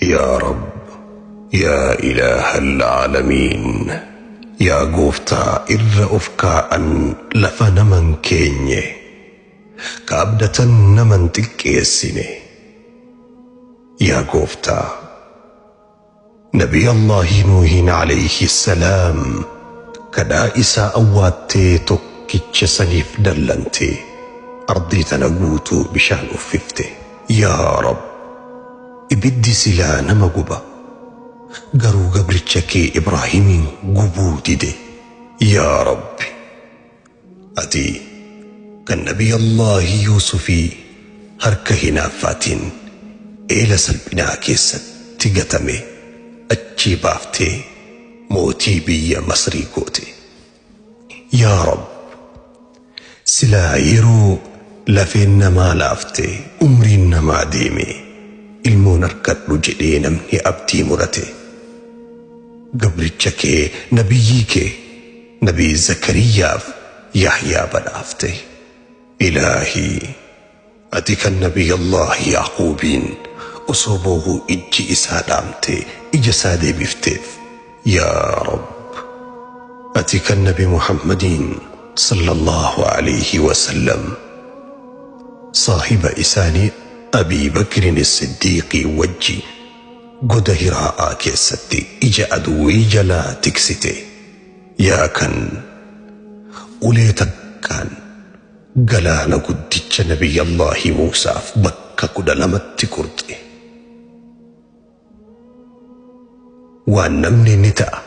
Yaa Rabb Yaa Ilaahal Aalamiin Yaa Gooftaa irra of kaa'an lafa nama hin keenye Ka abdatan nama hin xiqqeessine Yaa Gooftaa Nabii Allaahi Nuuhiin Alayhi Salaam Kadhaa isaa awwaattee tokkicha saniif dallantee Ardii tana guutuu bishaan uffifte Yaa Rabb Ibiddi silaa nama guba. Garuu gabricha kee Ibraahimiin gubuu dide. Yaa Rabbi! Ati kan Nabiyyallaahi Yuusufii harka hinaaffaatiin eela salphinaa keessatti gatame achii baaftee mootii biyya Masrii goote. Yaa Rabb! Silaa yeroo lafeen namaa laafte, umriin namaa deeme, ilmoon argadhu jedhee namni abdii murate, gabricha kee, nabiyyii kee, nabii Zakariyyaaf Yahyaa badhaafte. Ilaahii! Ati kan Nabiyyallah Ya'quubiin osoo boohu ijji isaa dhaamte ija isaa deebifteef. Yaa Rabb! Ati kan Nabi Muhammadiin, Sallallahu Aleyhi Wasallam, saahiba isaanii Abii Bakrin Siddiiqiin wajji goda Hiraa'aa keessatti ija aduwwii jalaa tiksite. Yaa kan ulee takkaan. Galaana guddicha Nabiyyallaahi Muusaaf bakka kudha lamatti qurxe. Waan namni ni ta'a,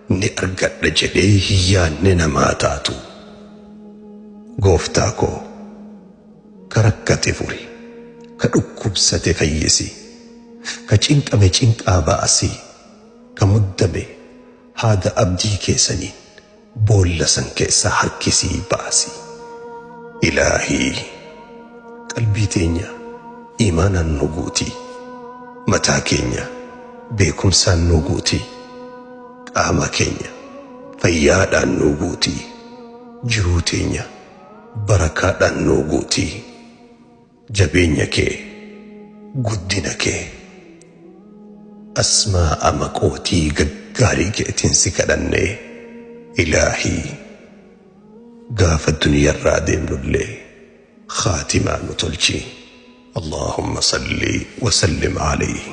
ni argadha jedhee hin yaanne namaa taatu. Gooftaa koo! Ka rakkate furi, ka dhukkubsate fayyisi, ka cinqame cinqaa baasi, ka muddame haada abdii kee saniin, Boolla san keessaa harkisii baasi. Ilaahii! Qalbii teenya iimaanaan nuu guuti. Mataa keenya beekumsaan nuu guuti. Qaama keenya fayyaadhaan nuu guuti. Jiruu teenya barakaadhaan nuu guuti. Jabeenya kee guddina kee Asmaa'a maqootii gaggaarii keetiin si kadhannee ilaahii Gaafa duniyarraa deemnullee khaatimaa nu tolchii Allaahumma salli wa sallim alayhi.